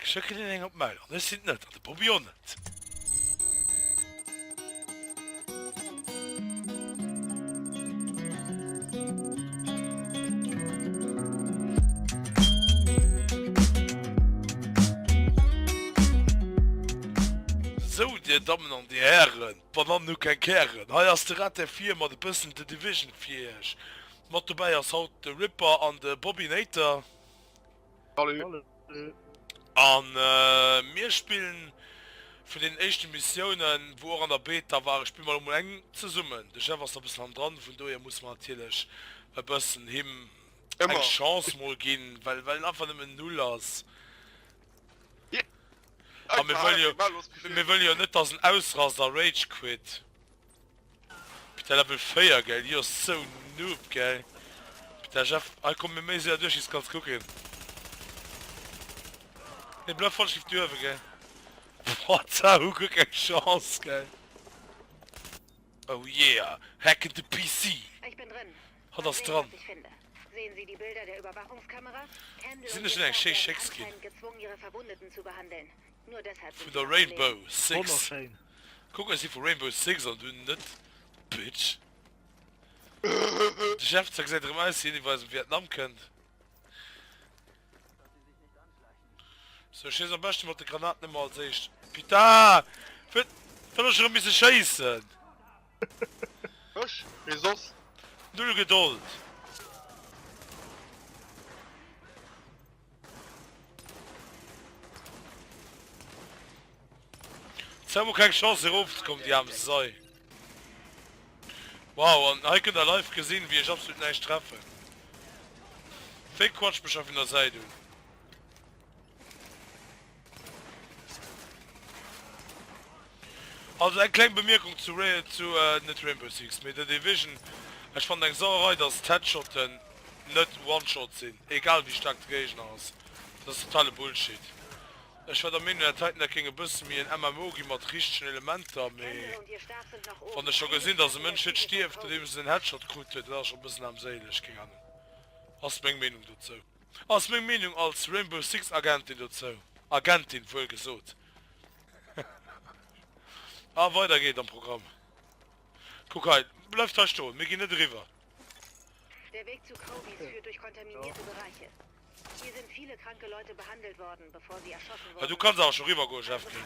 Ech schécken hien eng op d'Mail an ech sinn et net, an de Bobby och net. Sou, Dir Dammen an Dir Hären, d'Banannen hu keng Kären, hei ass de Rat der Vir mat e bëssen The Division fir Iech. Mat dobäi ass haut de Ripper an de Bobinator. An mir spillen vun den éischte Missiounen wou och an der Beta war, ech spille mer elo mol eng zesummen. De Jeff ass der bëssen hanner dran, vun dohier muss mer natierlech e bëssen him eng Chance mol ginn, well well en einfach nëmmen Null ass. A mir wëlle jo net, dass en ausrast a Rage Quit. Peter Level 4 geil jo ass sou noob geil Peter Jeff hei kommen mir méi séier duerch iis kanns kucken nee bleif voll schief duerwen geil what sa hu guer keng Chance geil oh yeah hacken de PC hatt ass dran sinn ech net eng schéi Schéckskin vun der Rainbow Six. Kuck ech si vu Rainbow Six an dunn net Bitch. De Chef ze gesäit erëm aus wéi een iwwer aus dem Vietnam kënnt. Sou schiess am beschte mat de Granaten ëmmer als éischt. Pita! Wéi soll ech erëm misse schéissen? Ech? Wéi soss? Null Gedold! Si hu keng Chance hir erof ze kommen déi aarm Sei. Wow an hei kënnt der live gesinn wéi ech absolut näischt treffen. Wéi quatscht mech hei vun der Säit un. Also eng kleng Bemierkung zu zu net Rainbow Six mee The Division, ech fannen eng Sauerei dass d'Headshotten net One Shot sinn egal wéi staark de Géigner ass, dat ass totale Bullshit. Ech war der Meenung dat heiten dat géing e bësse méi en MMO gi mat richtegen Elementer mee wann ech scho gesinn dass e Mënsch net stierft nodeems en en Headshot krut huet dat ass scho bëssen aarmséileg, keng Ahnung, ass meng Meenung dozou. Ass meng Meenung als Rainbow Six Agentin dozou, Agentin wuel gesot. A weider geet am Programm. Kuck hei, bleift hei stoen, mir ginn net eriwwer. Der Weg zu Crowbys führt durch kontaminierte Bereiche. Hier sind viele kranke Leute behandelt worden, bevor sie erschossen wurden. Du kanns awer scho riwwer goen, Jeff King.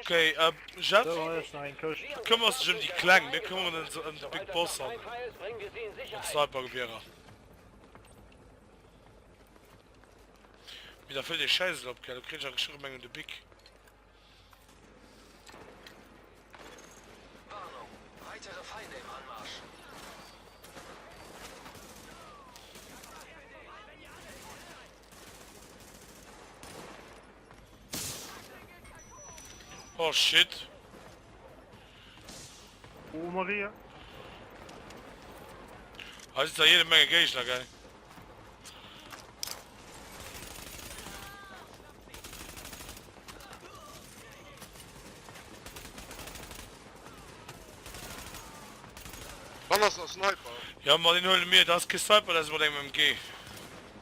Okay, ähm, Jeff, bekëmmer dech ëm déi Kleng, mir këmmeren ons ëm de Big Boss an d'Snipergewierer. Mee da fëllt ee Schäisel op, gell? Elo kritt ech a geschriwwen, mengen de Big. Warnung, weitere Feinde im Anmarsch! Oh shit. Oh Maria. Als ist da jede Menge Gegner, gell? Wann ist der Sniper? Ja, mal den holen mir, das ist kein Sniper, das ist mal dem MG.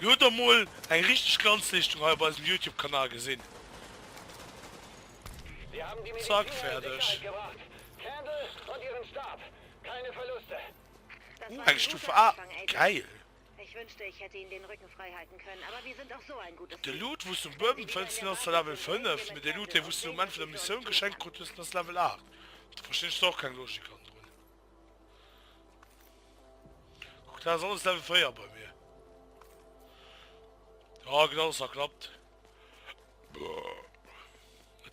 Dir hutt emol eng richteg Glanzleeschtung hei op eisem Youtube Kanal gesinn. Zack, fäerdeg. Ooh, eng Stufe A, gäil! De Loot wous du um Buedem fënns, deen ass zwar Level 5, mee de Loot dee wous du um Enn vun der Missioun geschenkt krut hues, deen ass Level 8. Do verstinn ech dann och keng Logik an drun. Och dat ass alles Level 4 bei mir. Ah, genau, das hat klappt.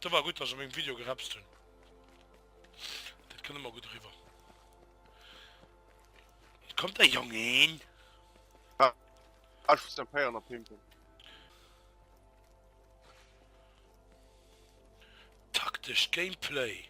Das war gut, dass ich mein Video gerapst habe. Das können wir gut rüber. Kommt der Junge hin? Ah, ich muss den Feier noch pimpen. Taktisch Gameplay.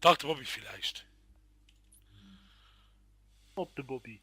Dach de Bobby villäicht. Op de Bobby.